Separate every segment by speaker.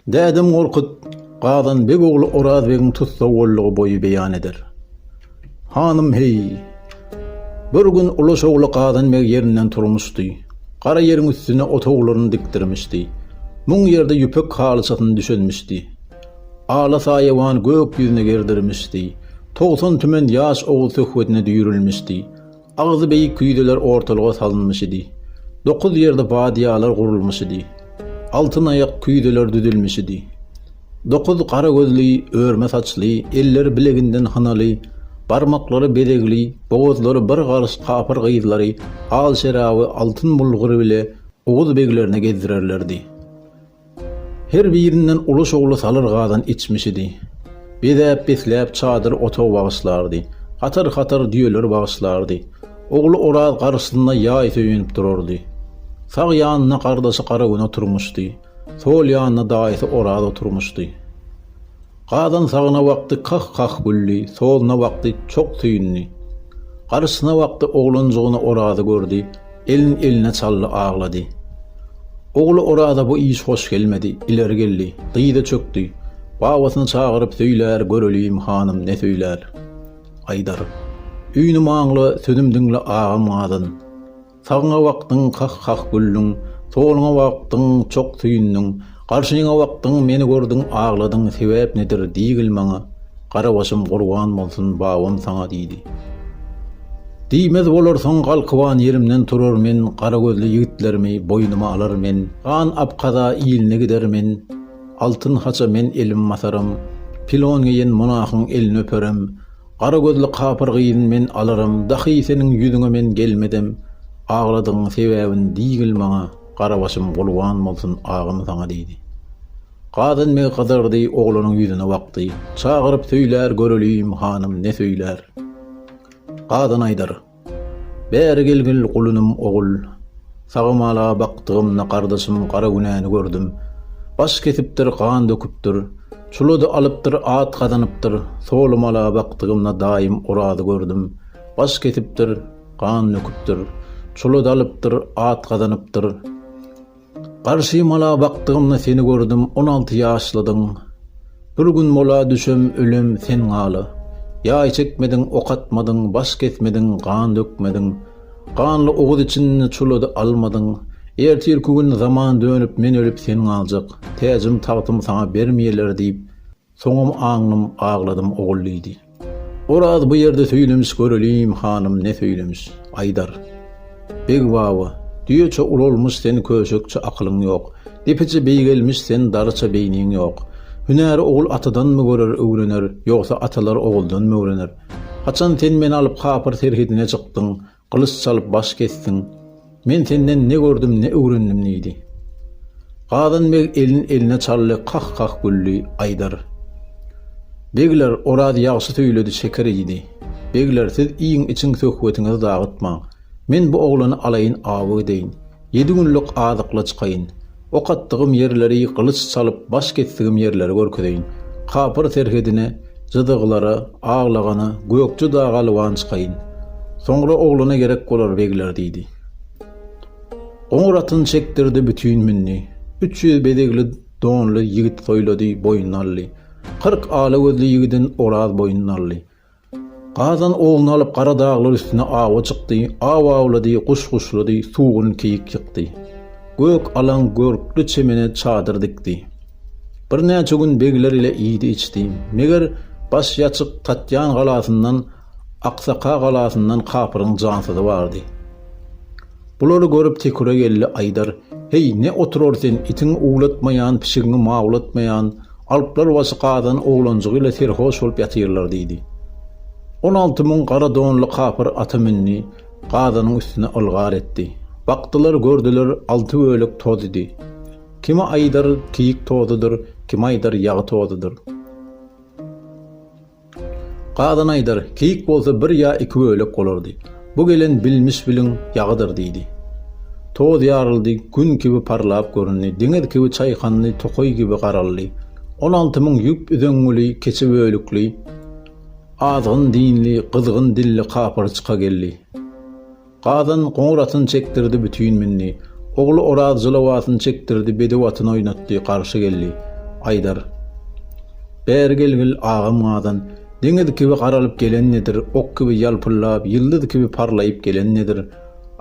Speaker 1: Dädem Gorkut, Gazan beg ogly Oraz begiň tussag boldugy boýy beýan eder. Hanym, Heý, bir gün Ulaş ogly Gazan beg ýerinden turmuşdy. Gara ýeriň üstüne otaglaryny dikdirmişdi. Muň ýerde ýüpek halyçasyny düşelmişdi. Ala saýawan gök ýüzüne gerdirmişdi. Togsan tümen ýaş ogul söhbetine düýrülmişdi. Agzy beýik küýzeler ortalyga salynmyşydy. Dokuz ýerde badýalar gurulmyşydy. Altyn aýak küýzeler düzülmişidi. Dokuz gara gözli, örme saçly, elleri bileginden hynaly, barmaklary bezegli, bogazlary bir garyş kapyr gyzlary al şeraby altyn bulgury bile oguz beglerine gezdirerlerdi. Her birinden uly şowly salyr gazan içmişidi. Bezäp-besläp çadyr otag bagyşlardy. Hatar-hatar düýeler bagyşlardy. Ogly Oraz garşysynda ýaý söýenip durardy. Sag ýanynda gardaşy Garagöne oturmyşdy. Sol ýanynda daýysy Oraz oturmyşdy. Gazan sagna wagty kah-kah güldi, solna wagty çok süýndi. Garşysyna wagty oglanjygyny Orazy gördi, elin eline çaldy, aglady. Ogly Oraza bu iş hoş gelmedi, ileri geldi, dyza çökdi, babasyny çagyryp söýler, göreliýim hanym ne söýler. Aýdar. Üýnüm aňla, sözüm diňle agam Gazan. Sagyňa bakdyň, kah-kah güldüň, Soluňa bakdyň, çok süýndüň, Garşyňa bakdyň, meni gördüň, Agladyň, sebäp nedir, diýgil maňa, Gara başym gurban bolsun, babam saňa, diýdi. Diýmez bolarsyň, galkyban ýerimden turar men, Gara gözli ýigitlerimi boýnuma alar men, Gan Abkaza iline gider men, Altyn haça men elim basaram, Pilon geýen monahyň elini öperem, Gara gözli kapyr gyzyn men alarym dahy seniň ýüzüňe men gelmedem agladygyň sebäbini diýgil maňa gara başym gulban bolsun agam saňa diýdi. Gadyn meg gyzardy oglanyň ýüzüne bakdy çagyryp söýlär göreliýim hanym ne söýlär. Gadyn aýdar. Bäri gelgil gulunym ogul. Sagamala bakdygymda gardaşym gara günäni gördüm. Baş kesipdir, gan döküpdir. Çulady alypdyr, at gazanypdyr. Solumala bakdygymda daýym Orazy gördüm. Baş kesipdir, gan döküpdir. Çulady alypdyr, at gazanypdyr. Garşy mala bakdygymda seni gördüm on alty ýaşlydyň Bir gün mola düşem ölem sen galy Ýaý çekmediň ok atmadyň baş kesmediň gan dökmediň Ganly oguz içinde çulady almadyň Ertirki gün zaman dönüp men ölüp sen galjak Täjim tagtym saňa bermeýeler diýip Soňam aňdym, agladym ogul diýdi. Oraz bu ýerde söýlemiş göreliň hanym ne söýlemiş. Aýdar. Beg baba, düýeçe ulalmyş sen köşekçe akylyň ýok, depeçe beýgelmiş sen daryça beýniň ýok. Hünäri ogul atadanmy görer öwrener, ýogsa atalar oguldanmy öwrener. Haçan sen meni alyp kapyr serhedine çykdyň, Gylyç çalyp baş kesdiň. Men senden ne gördüm, ne öwrendim diýdi. Gazan beg elin eline çaldy, kah-kah güldi, Aýdar. Begler, Oraz ýagşy söýledi, şeker iýdi. Begler, siz iýiň-içiň, söhbetiňizi dagytmaň. Men bu oglany alaýyn, awy gideýin. Ýedi günlük azykly çykaýyn. Ok atdygym ýerleri gylyç çalyp baş kesdigim ýerleri görkezeýin. Kapyr serhedine, jydyglara, aglagana, Gökje daga lywan çykaýyn. Soňra oglana gerek bolar begler diýdi. Goňur atyny çekdirdi, bütin mündi. Üç ýüz bezegli donly ýigit soýlady, boýnuna aldy. Kyrk ala gözli ýigidin Oraz boýnuna aldy. Gazan oguny alyp gara daglar üstüne awa çykdy, aw awlady, guş guşlady, sugun keýik ýykdy. Gök, alaň, görkli çemene çadyr dikdi. Birnäçe gün begler ile iýdi-içdi. Meger, baş ýaçyk Tatýan galasyndan, Aksaka galasyndan kapyryň jansyzy bardy. Bulary görüp Teküre geldi Aýdar, Heý, ne oturar sen, itiňi uwlatmaýan, pişigiňi mawlatmaýan, alplar başy gazan oglanjygy ile serhoş bolup ýatyrlar diýdi. On alty müň gara donly kapyr ata mündi, gazanyň üstüne ylgar etdi. Bakdylar, gördüler, alty bölek toz idi. Kimi Aýdar, keýik tozudyr, kimi Aýdar, ýagy tozudyr. Gazan aýdar, keýik bolsa bir ýa iki bölek bolardy. Bu gelen bilmiş-biliň ýagydyr, diýdi. Toz ýaryldy, gün kibi parlap göründi, deňiz kibi çaýkandy, tokaý kibi garaldy. On alty müň ýüp üzeňňili, keçe bölükli, azgyn dinli, gyzgyn dilli kapyr çyka geldi. Gazan goňur atyn çekdirdi bütin mindi. Ogly Oraz jylaw atyn çekdirdi bedew atyn oýnatdy garşy geldi. Aýdar. Bäri gelgil, agam Gazan. Deňiz kibi garalyp gelen nedir, ok kibi ýalpyllap, ýyldyz kibi parlaýyp gelen nedir?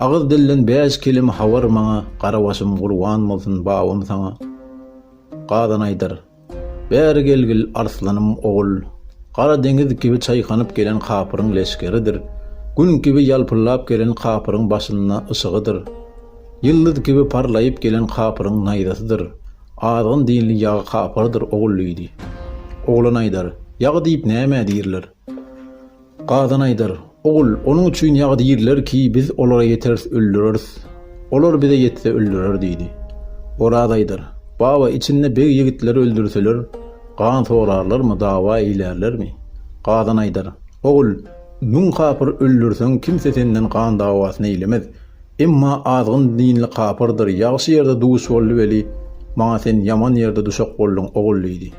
Speaker 1: Agyz dilden bäş keleme habar maňa, gara başym gurban bolsun babam saňa. Gazan aýdar. Bäri gelgil, arslan-ym ogul! Gara deňiz kibi çaýkanyp gelen kapyryň leşgeridir. Gün kibi ýalpyllap gelen kapyryň başynda yşygydyr. Ýyldyz kibi parlaýyp gelen kapyryň naýzasydyr. Azgyn dinli ýagy kapyrdyr ogul diýdi. Oglan aýdar, Ýag diýip nämä diýrler? Gazan aýdar, Ogul, onuň üçin ýag diýrler ki, biz olara ýeteris öldüreris. Olar bize ýetse öldürer diýdi. Oraz aýdar, Baba, içinde beg ýigitleri öldürseler, gan sorarlarmy, dawa eýlärlermi? Gazan aýdar, Ogul, müň kapyr öldürseň, kimse senden gan dawasyny eýlemez. Emma azgyn dinli kapyrdyr, ýagşy ýerde duş boldy weli, maňa sen ýaman ýerde duşak bolduň, ogul diýdi.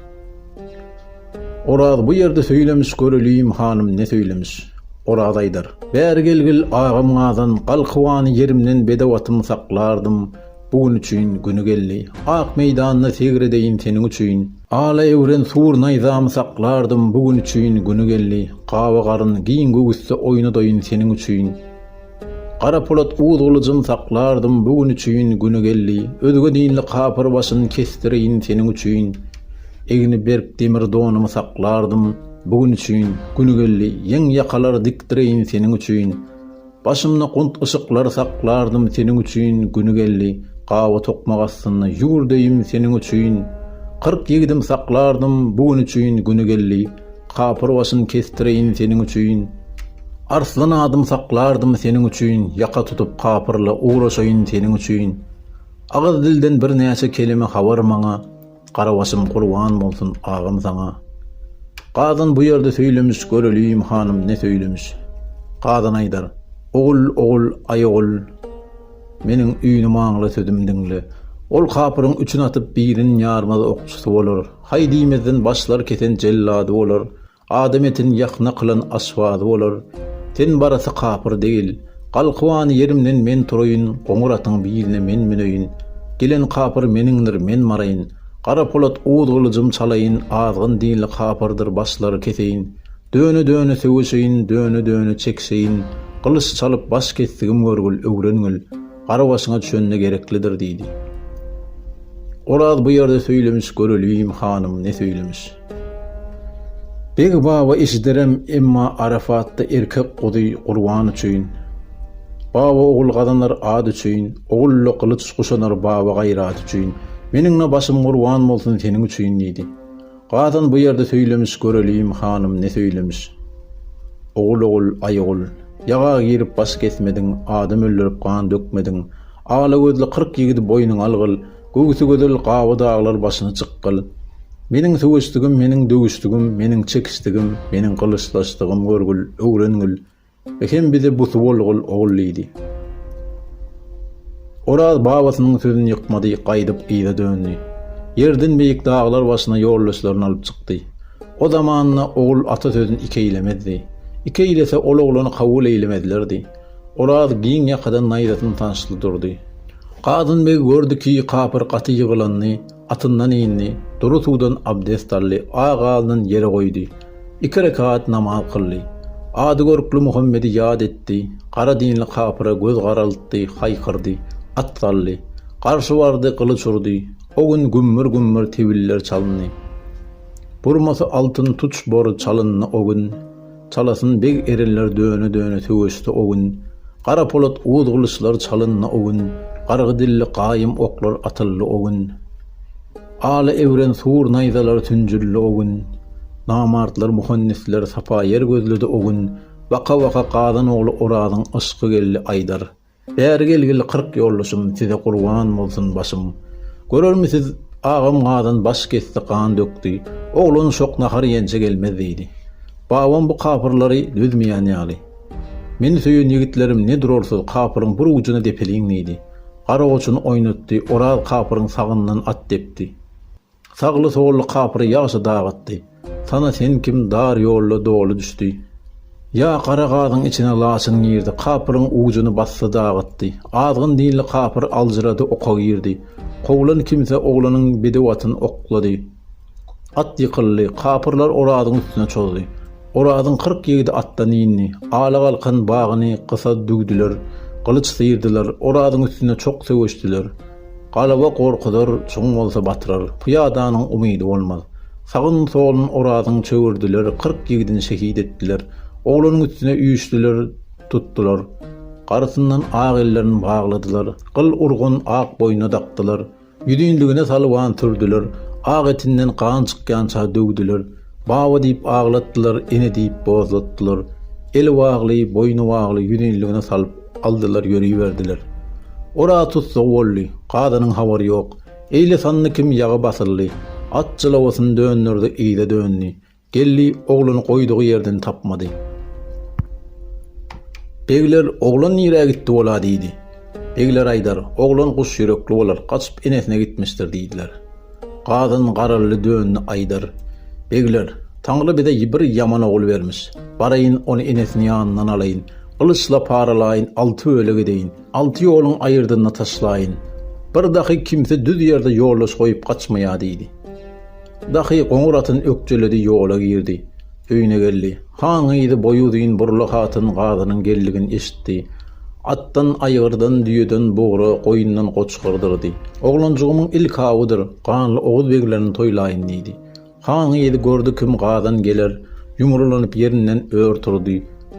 Speaker 1: Oraz bu ýerde söýlemiş Göreliýim hanym ne söýlemiş. Oraz aýdar. Bäri gelgil agam gazan Gal kywany ýerimden bedewatym saklardym Bu gün üçin güni geldi Ak meýdanda segredeýin seniň üçin Ala ewren sur naýzamy saklardym Bu gün üçin güni geldi Gawa garyn giň göwüsde oýnadaýyn seniň üçin Garapolat uz gylyjym saklardym bu gün üçin güni geldi özge dinli kapyr başyn kesdireýin seniň üçin egni berk demir donumy saklardym bu gün üçin güni geldi ýeň ýakalar dikdireýin seniň üçin başymda gunt yşyklar saklardym seniň üçin güni geldi gawa tokmak astynda ýüwürdeýim seniň üçin kyrk ýigidim saklardym bu gün üçin güni geldi Kapyr başyn kestireýin seniň üçin, Arslan adym saklardym seniň üçin, Ýaka tutup kapyrla ugraşaýyn seniň üçin, Agyz dilden bir näçe kelime habar maňa, Gara başym gurban bolsun agam saňa. Gazan bu ýerde söýlemiş, Göreliýim hanym ne söýlemiş. Gazan aýdar, Ogul, ogul, aý ogul, Meniň üýnüm aňla sözüm diňle. Ol kapyryň üçin atyp birin ýarmaz okçusy bolar. Haý diýmezden başlar kesen jellady bolar, adam etini ýakna kylan aşpady bolar. Sen barasy kapyr degil. Galkybany ýerimden men turaýyn, goňur atyň biline men müneýin. Gelen kapyr meniňdir, men maraýyn. Gara polat uz gylyjym çalaýyn, azgyn dinli kapyrdyr başlary keseýin. Döne-döne söweşeýin, döne-döne çekişeýin. Gylyç çalyp baş kesdigim görgül, öwrengil. Gara başyňa düşende gereklidir, diýdi. Oraz bu ýerde söýlemiş, göreliýin, hanym, ne söýlemiş. Beg baba eşiderem, emma Arafatda erkek guzy gurban üçin, baba ogul gazanar at üçin, ogul-la gylyç guşanar baba gaýraty üçin, meniň-la başym gurban bolsun seniň üçin, diýdi. Gazan bu ýerde söýlemiş Göreliýim hanym ne söýlemiş Ogul ogul aý ogul Ýaga girip baş kesmediň Adam öldürip gan dökmediň Ala gözli kyrk ýigidi boýnuňa algyl Göwsi gözel gawa daglar başyny çykgyl Meniň söweşdigim meniň döwüşdigim meniň çekişdigim meniň gylyçlaşdygym görgül öwrengül Ekem bize bu suwulgul ogul diýdi. Oraz babasynyň sözüni ýykmady, gaýdyp yza döndi. Ýerden beýik daglar başyna ýoldaşlaryny alyp çykdy. O zamanda ogul ata sözüni iki eýlemezdi. Iki eýlese ol oglany kabul eýlemezlerdi. Oraz giň ýakadan naýzasyny sançyply durdy. Gazanbeg gördi ki, kapyr gaty ýygylandy. Atyndan indi, dury suwdan abdest aldy, aýagalnyn ýere goýdy. Iki rekat namaz kyldy. Ady görkli Muhammedi ýat etdi, gara dinli kapyra göz garaltdy, haýkyrdy. At saldy. Garşy bardy, gylyç urdy. O gün gümmür-gümmür tebiller çalyndy. Burmasy altyn tuç bory çalyndy o gün. Çalasyn beg erenler döne-döne söweşse o gün, Gara polat uz gylyçlar çalyndy o gün, Gargy dilli gaýym oklar atyldy o gün, Ala ewren sur naýzalar tünjüldi o gün, Namartlar muhandisler sapa ýer gözledi o gün, Baka-baka Gazan ogly Orazyň yşky geldi aýdar. Bäri gelgil kyrk ýoldaşym size gurban bolsun başym Görermisiz agam gazan baş kesdi gan dökdi oglan şok nahar iýençe gelmez diýdi Babam bu kapyrlary dözmeýän ýaly Meni söýen ýigitlerim ne durarsyz kapyryň bir ujuna depeliň diýdi Garagoçuny oýnatdy Oraz kapyryň sagyndan at depdi. Sagly solly kapyry ýagşy dagatdy. Sana sen kim dar ýolda doly düşdi. Ýa gara gazyň içine laçyn girdi, kapyryň ujuny basdy dagatdy. Azgyn dilli kapyr aljyrady oka girdi. Kowlan kimse oglanyň bedew atyn oklady. At ýykyldy, kapyrlar Orazyň üstüne çozdy. Orazyň kyrk ýigidi atdan indi. Alagalkan bagyny gysa düwdüler, gylyç syrdylar, Orazyň üstüne çok söweşdiler. Galaba gorkuzar, çuň bolsa batyrar, pyýadanyň umydy bolmaz. Sagyn-solun Orazyň çöwürdiler, kyrk ýigidini şehit etdiler. Oglanyň üstüne üýşdüler, tutdular. Garysyndan ak ellerini bagladylar, gyl urgun ak boýnuna dakdylar. Ýüzünligine salwan sürdüler, ak etinden gan çykýança döwdüler. Baba diýip aglatdylar, ene diýip bozlatdylar. Eli bagly, boýny bagly ýüzinligine salyp aldylar ýöriberdiler. Ora tussag boldy. Kazanyň habary ýok. Eýle sandy kim ýaga basyldy. At jylawasyny dönderdi yza döndi. Geldi, ogluny goýdugy ýerden tapmady. Begler, oglan nirä gitdi bola diýdi. Begler aýdar, oglan guş ýürekli bolar, gaçyp enesine gitmişdir diýdiler. Gazyn garaldy döndi aýdar. Begler, Taňry bize bir ýaman ogul bermiş. Baraýyn, ony enesini ýanyndan alaýyn. Gylyçla paralaýyn, alty bölek edeýin. Alty ýoluň aýyrdyna taşlaýyn. Bir dahy kimse düz ýerde ýoldaş goýup gaçmaýa diýdi. Dahy goňur atyn ökjeledi ýola girdi. Öýüne geldi. Haňy yzy boýy uzyn burla hatyn gazynyň geldigini eşitdi. Atdan, aýgyrdan, düýeden, bugra, goýundan goçgar dyrdy. Oglanjygymyň ilk awudyr, ganly oguz beglerini toýlaýyn diýdi. Haňy yzy gördi kim gazan geler, ýumrulanyp ýerinden ör turdy.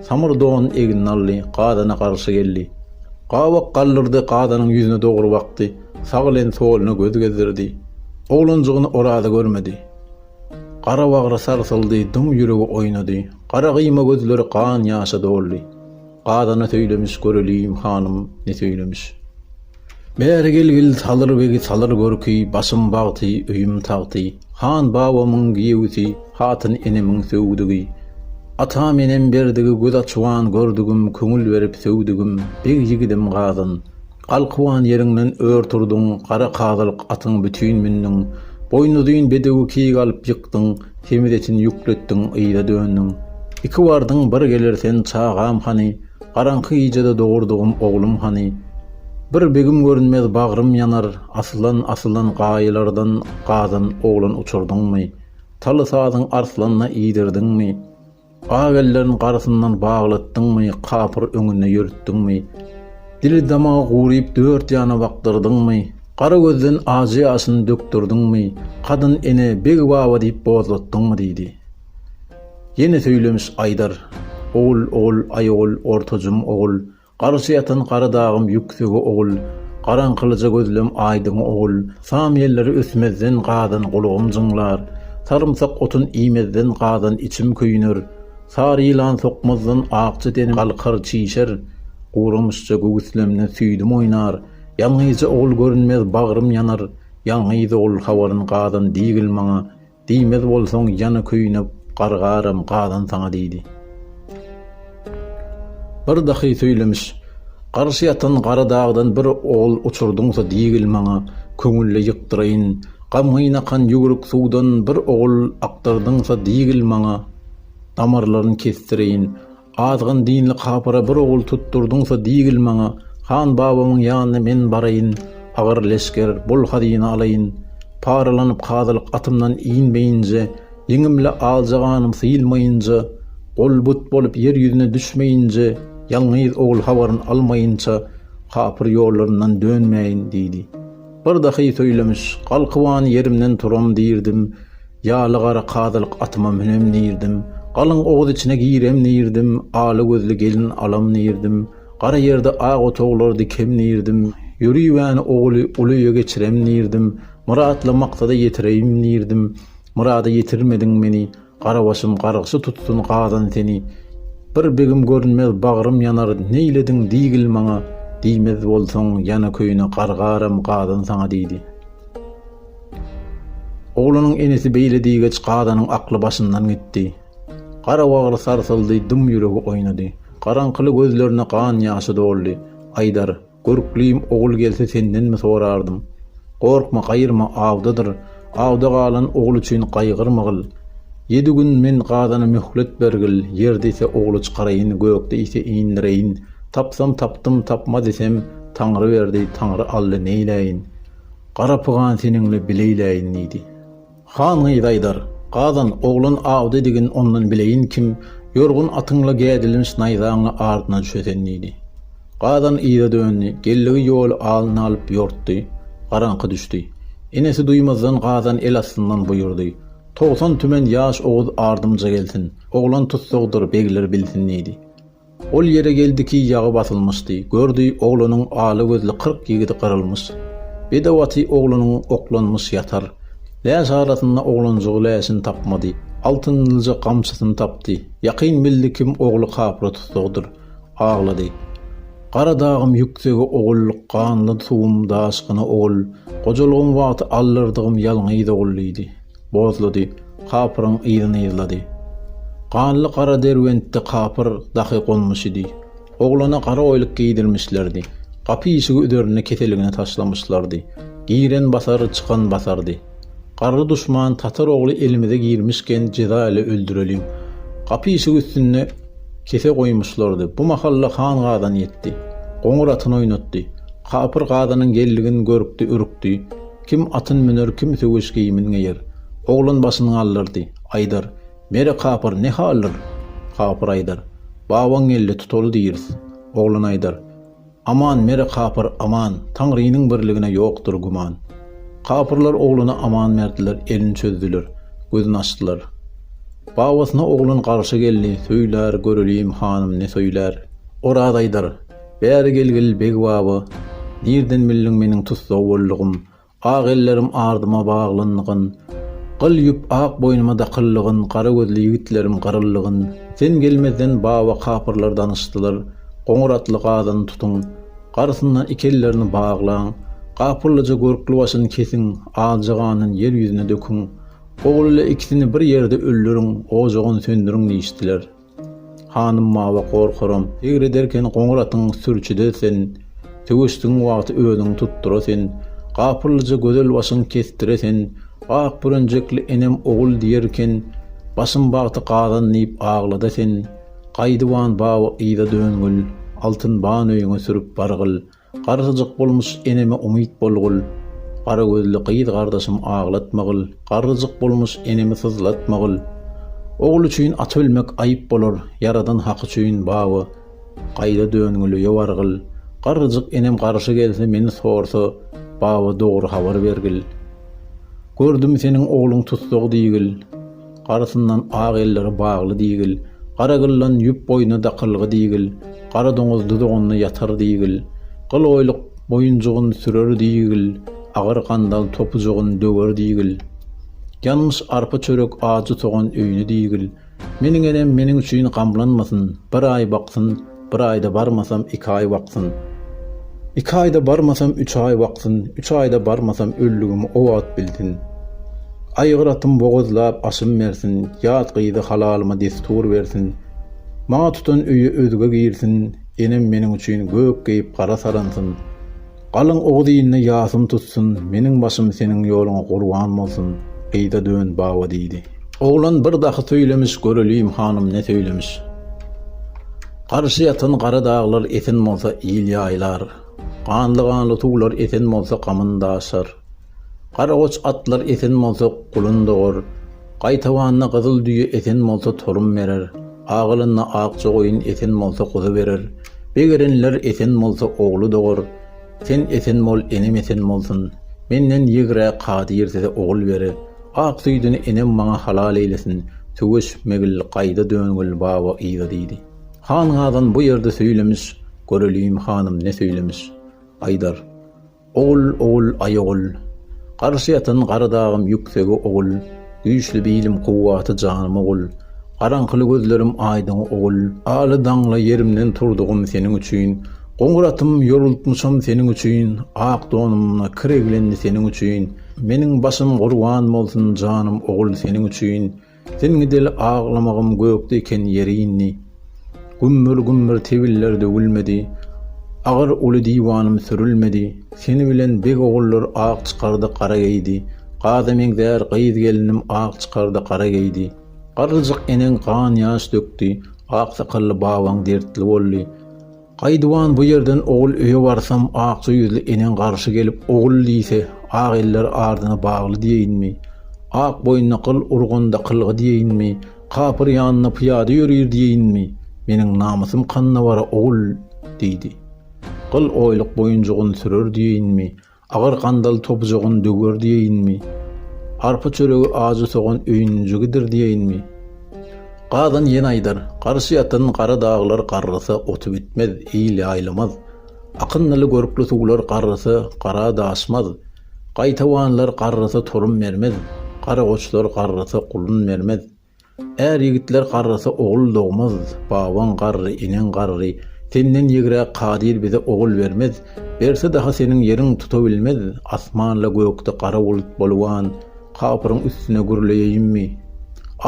Speaker 1: Samyr donuny egnine aldy, gazana garşy geldi. Gabak galdyrdy, gazanyň ýüzüne dogry bakdy, sag bilen soluna göz gezdirdi. Oglanjygyny Oraza görmedi. Gara bagry sarsyldy, dym ýüregi oýnady, gara gyýma gözleri gan-ýaşa doldy. Gazana söýlemiş, göreliýim, hanym, ne söýlemiş. Bäri gelgil, Salyr begi salyr görki, başym bagty, öýüm tagty, han babamyň giýewisi, hatyn enemiň söwdügi, atam-enem berdigi, göz açuan gördügim, köňül berip söwdügim, beg ýigidim gazan. Galkywan ýeriňden ör turduň, gara kazylyk atyňy bütin mündüň. Boýnuzyn bedewi kig alyp ýykdyň, semiz etin ýükletdiň, yza döndüň. Iki bardyň, bir geler sen, çagam hany? Garaňky gijede dogurdygym oglum hany? Bir begim görünmez, bagrym ýanar, aslan, aslan, gaýalardan gazan oglan uçurdyňmy? Taly sazyň arslanyna iýdirdiňmi? Ak ellerin garasyndan baglatdyňmy, kapyr öňünde ýörütdiňmi? Dili-damagy guryp, dört ýana bakdyrdyňmy? Gara gözden ajy ýaşyny dökdürdiňmi? Kadyn ene, beg baba diýip bozlatdyňmy? diýdi. Ýene söýlemiş Aýdar. Ogul, ogul, aýogul, ortajym ogul, Garşy ýatan gara dagym ýüksege ogul, Garaňkylyja gözlem aýdyňa ogul, Sam ýelleri ösmezden gazan gulagym jyňlar, Sarymsak otun iýmezden gazan içim köýner, Sary ýylan sokmazdan akja denim galkar, çişer, Guramyşja göwüslemde süýdüm oýnar, Ýalňyzja ogul görünmez bagrym ýanar, Ýalňyz ogul habaryn gazan diýgil maňa, Diýmez bolsaň, ýana köýnüp, gargaram, gazan saňa diýdi. Bir dahy söýlemiş, Garşy ýatan gara dagdan bir ogul uçurdyňsa diýgil maňa, köňülli ýykdyraýyn, Gamgyn akan ýüwrük suwdan bir ogul akdyrdyňsa diýgil maňa, Damarlaryn kesdireýin, Azgyn dinli kapyra bir ogul tutdurdyňsa diýgil maňa, han babamyň ýanyna men baraýyn, agyr leşger, bol hazyna alaýyn. Paralanyp kazylyk atymdan inmeýinje, ýeňimle aljaganym syýylmaýynja, gol-but bolup ýer ýüzüne düşmeýinje, ýalňyz ogul habaryn almaýynça kapyr ýollaryndan dönmäýin, diýdi. Bir dahy söýlemiş, Galkybany ýerimden turam diýrdim. Ýaly-gara kazylyk atyma münem diýirdim. Galyň oguz içine girem diýirdim. Ala gözli gelin alam diýirdim. Gara ýerde ak otaglar dikem diýirdim. Ýörübäni oguly uly öýe geçirem diýirdim. Myratly maksada ýetireýin diýirdim. Myrada ýetirmediň meni. Gara başym gargşy tutsun gazan seni. Bir begim görünmez bagrym ýanar Neýlediň diýgil maňa. Diýmez bolsaň ýana köýne gargaram gazan saňa diýdi. Oglanyň enesi beýle diýgeç Gazanyň akly başyndan gitdi. Gara bagry sarsyldy, dym ýüregi oýnady. Garaňkyly gözlerine gan ýaşy doldy. Aýdar, görklüýim ogul gelse sendenmi sorardym. Gorkma, gaýyrma, awdadyr. Awda galan ogul üçin gaýgyrmagil. Ýedi gün men Gazana möhlet bergil, ýer diýse ogly çykaraýyn, gök diýse indireýin. Tapsam tapdym, tapma disem, Taňry berdi, Taňry aldy, neýläýin. Gara pygan seniňle bileýläýin diýdi. Han gyz aýdar, Gazan, oglan awdedigin ondan bileýin kim, ýorgun atyňla gädilinç naýzaňla ardyna düşesen diýdi. Gazan yza döndi, geldigi ýoly alnyna alyp ýortdy. Garaňky düşdi. Enesi duýmazdan Gazan el astyndan buýurdy, Togsan tümen ýaş oguz ardymja gelsin, oglan tussagdyr, begler bilsin diýdi. Ol ýere geldi ki, ýagy basylmyşdy. Gördi, oglanyň ala gözli kyrk ýigidi gyrylmyş. Bedew aty oglanyň oklanmyş ýatar. Läş arasynda oglanjygy läşini tapmady. Altynlyja gamçysyny tapdy. Ýakyn bildi kim ogly kapyra tussagdyr. Aglady. Gara dagym ýüksege ogul, ganly suwum daşgyna ogul, gojalygyň wagty aldyrdygym ýalňyz ogul diýdi. Bozlady, kapyryň yzyny yzlady. Ganly gara Derbentde kapyr dahy gonmuş idi. Oglana gara oýluk geýdirmişlerdi. Gapy-işigi üzerinde keseligini taşlamyşlardy. Giren basar, çykan basardy. Garry duşman tatar ogly elimize girmişken jeza ile öldüreliň. Gapy-işigi üstünde kese goýmuşlardy. Bu mahalla han gazan ýetdi. Goňur atyny oýnatdy. Kapyr gazanyň geldigini görüpdi, ürkdi. Kim atyn müner, kim söweş geýimin geýer. Oglan başyn galdyrdy. Aýdar, Mere kapyr ne haldir? Kapyr aýdar, Babaň geldi, tutaly diýris. Oglan aýdar, Aman, mere kapyr, aman, Taňrynyň birligine ýokdur güman. Kapyrlar oglana aman berdiler, elini çözdüler, gözün açdylar. Babasyna oglan garşy geldi, Söýlär, göreliýim, hanym ne söýlär? Oraz aýdar, Bäri gelgil, beg baba! Nirden bildiň meniň tussag boldugym? Ak ellerim ardyma baglanyygyn, gyl ýüp ak boýnuma dakylnygyn, gara gözli ýigitlerim gyrylnygyn. Sen gelmezden baba kapyrlar danyşdylar. Goňur atly gazany tutuň. Garysyndan iki ellerini baglaň. Gapyrlyja görkli başyny kesiň, aljy ganyny ýer ýüzüne döküň. Ogul ile ikisini bir ýerde öldüriň, ojagyny söndüriň diýişdiler. Hanym Mawa gorkaram, eger ederken goňur atyň sürçüde sen, Söweşdigiň wagty özüňi tutdyra sen, Gapyllyja gözel başyň kesdire sen, Ak bürenjekli enem ogul diýerken, Başym bagty gazan diýip aglada sen, Gaýdyban bawa yza döngül, Altyn ban öýüňe sürüp bargyl. Garryjyk bolmuş eneme umyt bolgul, Gara gözli gyz gardaşym aglatmagyl, Garryjyk bolmuş enemi syzlatmagyl. Ogul üçin at ölmek aýyp bolar, Ýaradan haky üçin bawa gaýra döngül, Ýowargyl, garryjyk enem garşy gelse meni sorsa, Bawa dogry habar bergil. Gördüm seniň ogluň tussag diýgil. Garasyndan ak elleri bagly diýgil, Gara gyllan ýüp boýna dakylgy diýgil, Gara doňuz duzagynda ýatar diýgil, Gyl oýluk moýunjygyn sürer diýgil, Agyr gandal topujygyn döwer diýgil, Ýanmyş arpa çörek ajy sogan öýni diýgil, Meniň enem meniň üçin gamlanmasyn, Bir aý baksyn, Bir aýda barmasam iki aý baksyn. Iki aýda barmasam üç aý baksyn, üç aýda barmasam öllügimi o wagt bilsin. Aýgyratym bogazlap aşym bersin, ýat gyzy halalyma destur bersin. Maňa tutan öýe özge girsin, enem meniň üçin gök geýip gara saransyn. Galyň oguz-iline ýasyn tutsun, meniň başym seniň ýoluňa gurban bolsun, gyza dön, baba, diýdi. Oglan bir dahy söýlemiş, göreliýim, hanym ne söýlemiş. Garşy ýatan gara daglar esen bolsa, il ýaýlar. Ganly-ganly suwlar esen bolsa, gamyn daşar. Garagoç atlar esen bolsa, gulun dogar. Gaýtawanda gyzyl düýe esen bolsa, torum berer. Agalanda akja goýun esen bolsa, guzy berer. Begerenler esen bolsa, ogly dogar. Sen esen bol, enem esen bolsun. Menden ýigrä kadyr size ogul bere. Ak süýdüni enem maňa halal eýlesin. Söweş, Megil, gaýda Döngül baba yza diýdi. Han Gazan bu ýerde söýlemiş, göreliň, hanym, ne söýlemiş. Aýdar. Ogul, ogul, aý ogul. Garşy ýatan gara dagym ýüksegi ogul, Güýçli bilim kuwwaty janym ogul, Garaňkyly gözlerim aýdyňy ogul. Aly daňly ýerimden turdugym seniň üçin, Goňur atym ýorultmyşam seniň üçin, Ak donumna kir eglendi seniň üçin, Meniň başym gurban bolsun janym ogul seniň üçin. Sen gideli aglamagym gökde eken ýeri indi. Gümmür-gümmür tebiller döwülmedi, agyr uly diwanym sürülmedi. Seni bilen beg ogullar ak çykardy gara geýdi, gaza meňzär gyz gelinim ak çykardy gara geýdi. Garryjyk eneň gan-ýaş dökdi, ak sakally babaň dertli boldy. Gaýduwan bu ýerden ogul öýe barsam, akja ýüzli eneň garşy gelip, ogul diýse, ak eller ardyna bagly diýeýinmi? Ak boýnuna gyl urganda kylgy diýeýinmi? Kapyr ýanynda pyýada ýörir diýeýinmi? Meniň namysym kanda bara, ogul! diýdi. Gyl oýluk boýunjygyny sürer diýeýinmi? Agyr gandal topujagyny döwer diýeýinmi? Arpa çöregi ajy sogan öýünjigidir diýeýinmi? Gazan ýene aýdar, Garşy ýatan gara daglar garrasa oty bitmez, il ýaýlamaz. Akyndyly görkli suwlar garrasa gara daşmaz. Gaýtawanlar garrasa torun bermez. Garagoçlar garrasa gulun bermez. Är ýigitler garrasa ogul dogmaz, Babaň garry, eneň garry, Senden ýegräk kadyr bize ogul bermez, Berse daha seniň ýeriň tutabilmez, Asman-la gökde gara bulut boluban, Kapyryň üstüne gürleýeýinmi?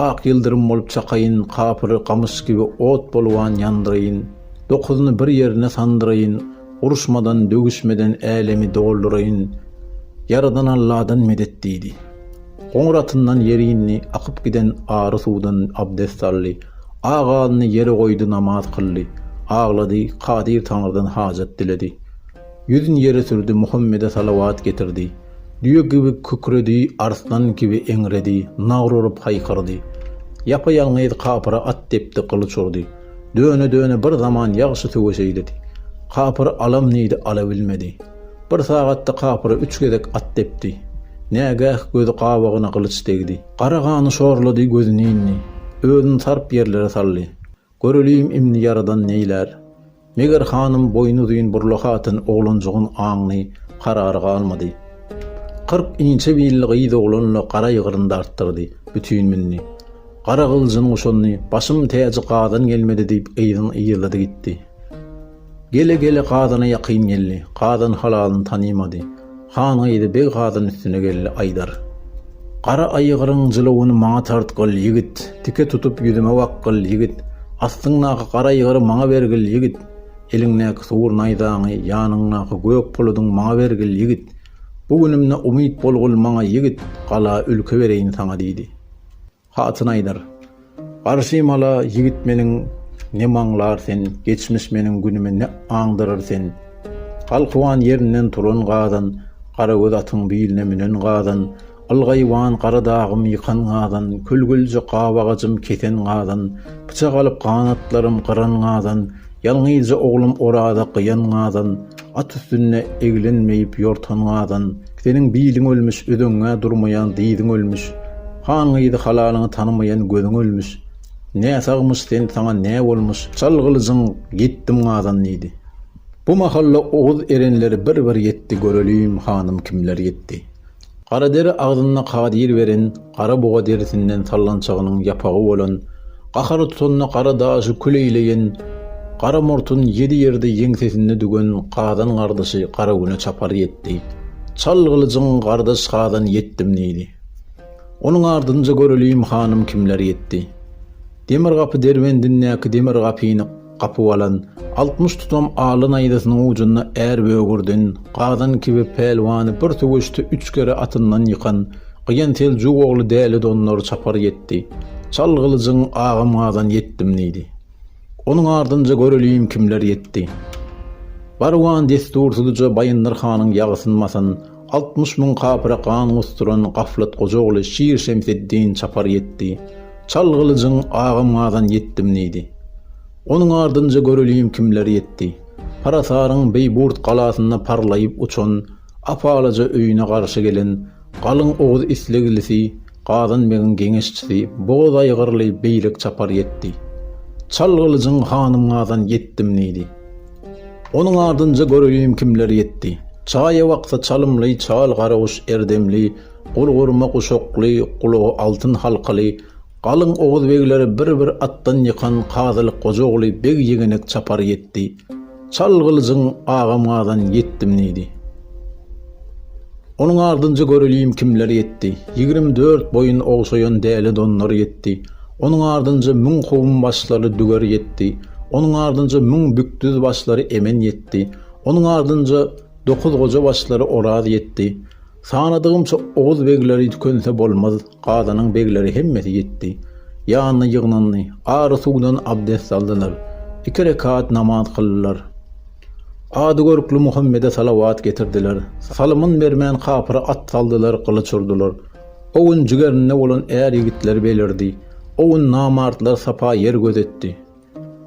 Speaker 1: Ak ýyldyrym bolup çakaýyn, Kapyry gamyş kibi ot boluban ýandyraýyn, Dokuzyny bir ýerine sandyraýyn, Uruşmadan, döwüşmeden älemi dolduraýyn, Ýaradan Alladan medet diýdi. Goňur atyndan ýere indi, akyp giden ary suwdan abdest aldy, ak alyny ýere goýdy namaz kyldy, aglady, Kadyr Taňrydan hajat diledi. Ýüzün ýere sürdi, Muhammede salawat getirdi. Düýe kibi kükredi, arslan kibi eňredi, nagr urup haýkyrdy. Ýapa-ýalňyz kapyra at depdi, gylyç urdy. Döne-döne bir zaman ýagşy söweş eýledi. Kapyry alam diýdi, ala bilmedi. Bir sagatda kapyra üç gezek at depdi. Nägäh gözi gabagyna gylyç degdi. Gara gany şorlady, gözüni indi. Özüni tarp ýerlere saldy. Göreliýim indi ýaradan neýlär. Meger hanym boýnuzyn burla hatyn oglanjygyň aňly, karary galmady. Kyrk inçe billi gyz oglanla gara ýygryn dartdyrdy. Bütin mündi. Gara gylyjyny guşandy, Başym täji Gazan gelmedi diýip gyzyň yzlady gitdi. Gele-gele Gazana ýakyn geldi. Gazan halalyny tanymady. Han gyzy Beg Gazan üstüne geldi, aýdar. Gara aýgyryň jylawyny maňa tartgyl, ýigit, tike tutup ýüzüme bakgyl, ýigit, astyňdaky gara aýgyry maňa bergil, ýigit, eliňdäki sugur naýzaňy, ýanyňdaky gök puludyň maňa bergil, ýigit, bu günümde umyt bolgul maňa, ýigit, gala, ülke bereýin saňa diýdi. Hatyn aýdar, Garşy mala ýigit meniň nem aňlar sen, geçmiş meniň günümi ne aňdyrr sen. Galkywan ýerinden turan gazan, garagöz atyň biline münen gazan, ylgaýwan gara dagym ýykan gazan, kül-gülje gap agajym kesen gazan, pyçak alyp ganatlarym gyran gazan, ýalňyzja oglum oraza gyýan gazan, At üstünde eglen meýip ýortan gazan Seniň biliň ölmüş ödeňňä durmaýan dyzyň ölmüş Han gyzy halalyňy tanymaýan gözüň ölmüş Näsagmyş sen saňa nä bolmyş çal gylyjyň ýetdim gazan diýdi Bu mahalla oguz erenleri bir bir ýetdi Görelim hanym kimler ýetdi Gara deri agzynda kadyr beren gara buga derisinden sallançagynyň ýapagy bolan, gahary tutanda gara daşy kül eýleýän, gara murtun ýedi ýerde ýeňsesinde düwen Gazan gardaşy Garagüne çapar ýetdi. Çal gylyjyň Gardaş Gazan ýetdim diýdi. Onuň ardynja göreliýim hanym kimler ýetdi. Demir gapy derbendindäki demir gapyny. Gapyp alan, altmyş tutam aly naýzasynyň ujunda är böwürdin, gazan kibi pälwany bir söweşde üç kere atyndan ýykan, gyýan seljuk ogly Däli Dondar çapar ýetdi. Çal gylyjyň, agam gazan ýetdim diýdi. Onuň ardynja göreliýin kimler ýetdi. Barwan dessursyzja Baýyndyr hanyň ýagysyn basan, Altmyş müň kapyra gan gusduran Gaflat goja ogly Şir Şemseddin çapar ýetdi. Çal gylyjyň, agam Gazan ýetdim diýdi. Onuň ardynja göreliň kimler ýetdi. Parasaryň Beýburt galasynda parlaýyp uçan, ap-alaja öýüne garşy gelen, galyň oguz isleglisi, Gazan begiň geňeşçisi, bogaz aýgyrly Beýlek çapar ýetdi. Çal gylyjyň, hanym Gazan ýetdim diýdi. Onuň ardynca göreýin kimler ýetdi. Çaýa waksa çalymly, çal garaguş erdemli, gurgurma guşakly, gulagy altyn halkaly, galyň oguz begleri bir-bir atdan ýykan Kazylyk goja ogly beg ýegenek çapar ýetdi. Çal gylyjyň, agam gazan, ýetdim diýdi. Onuň ardynca göreliýim kimler ýetdi. Ýigrimi dört boýun ogşaýan däli donlar ýetdi. Onuň ardynja müň kowum başlary düger ýetdi. Onuň ardynja müň bükdüz başlary emen ýetdi. Onuň ardynja dokuz goja başlary oraz ýetdi. Sanadygymça oguz begleri tükense bolmaz. Gazanyň begleri hemmesi ýetdi. Ýanyna ýygnandy. Ary suwdan abdest aldylar. Iki rekat namaz kyldylar. Ady görkli Muhammede salawat getirdiler. Salymyn bermän kapyra at saldylar, gylyç urdular. O gün jigerinde bolan är-ýigitler belirdi. O gün namartlar sapa ýer gözetdi.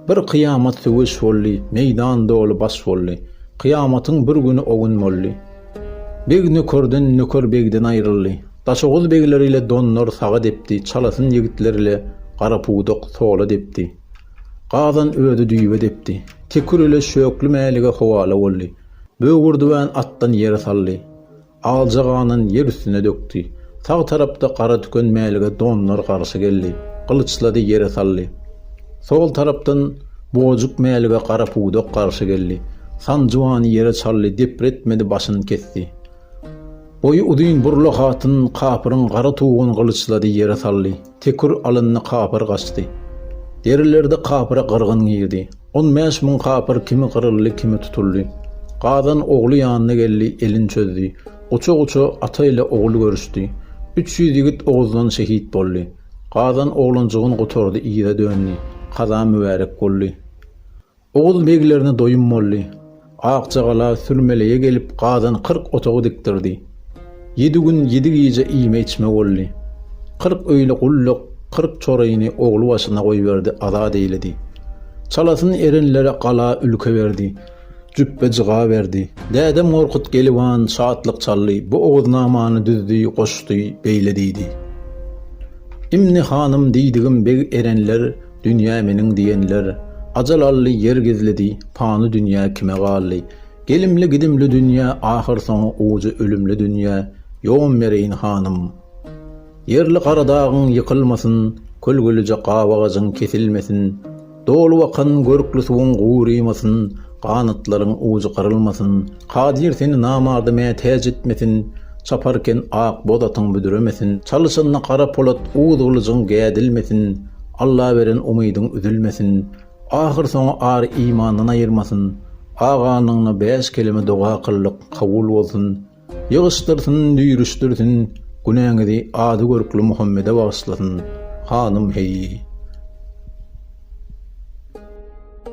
Speaker 1: Bir kyýamat söweş boldy, Meýdan doly baş boldy. Kyýamatyň bir güni o gün boldy. Beg nökerden, nöker begden aýryldy. Daşoguz begleri ile donlar saga depdi, Çalasyn ýigitler ile gara pudak sola depdi. Gazan özi düýbe depdi. Tekür ile Şökli Mälige howala boldy. Böwürdüwän atdan ýere saldy. Alja ganyny ýer üstüne dökdi. Sag tarapda gara tüken mälige donlar garşy geldi. Gylyçlady, ýere saldy. Sol tarapdan bugajyk mälige gara pudak garşy geldi. Sanjybany ýere çaldy, depretmedi, başyny kesdi. Boýy uzyn Burla hatyn kapyryň gara tuguny gylyçlady, ýere saldy. Tekur alyndy kapyr gaçdy. Derilerde kapyra gyrgyn girdi. On bäş müň kapyr kimi gyryldy kimi tutuldy. Gazan ogly ýanyna geldi elin çözdi. Guça guça ata ile ogul görüşdi. Üç ýüz ýigit oguzdan şehit boldy. Gazan oglanjygyn gutardy yza döndi. Kaza mübärek boldy. Oguz beglerine doýum boldy. Akjagala sürmeleýe gelip gazan kyrk otagy dikdirdi. Ýedi gün, ýedi gije iýme-içme boldy. Kyrk öýli gulluk, kyrk çoryny ogly başyna goýberdi, azat eýledi. Çalasyn erenlere gala, ülke berdi. Jüpbe-jyga berdi. Dädem Gorkut Geliwan şatlyk çaldy, bu Oguznamany düzdi, goşdy, beýle diýdi. Imni hanym diýdigim beg erenler Dünýä meniň diýenler, Ajal aldy, ýer gizlidi, Pany dünýä kime galdy? Gelimli-gidimli dünýä, Ahyrsoňy ujy ölümli dünýä, Ýom bereýin hanym! Ýerli Garadagyň ýykylmasyn, Kölgelije gabagajyň kesilmesin, Dolubakan görkli suwuň gurymasyn, Ganatlaryň ujy gyrylmasyn, Kadyr seni namarda mätäç etmesin, Çaparken ak boz atyň büdremesin. Çalyşanda gara polat uz gylyjyň gädilmesin, Alla beren umydyň üzülmesin. Ahyrsoňy ar-imandan aýyrmasyn, Aganyňna bäş keleme doga kyldyk, kabul bolsun. Ýygyşdyrsyn, düýrüşdirsin, günäňizi ady görkli Muhammede bagyşlasyn, hanym heý.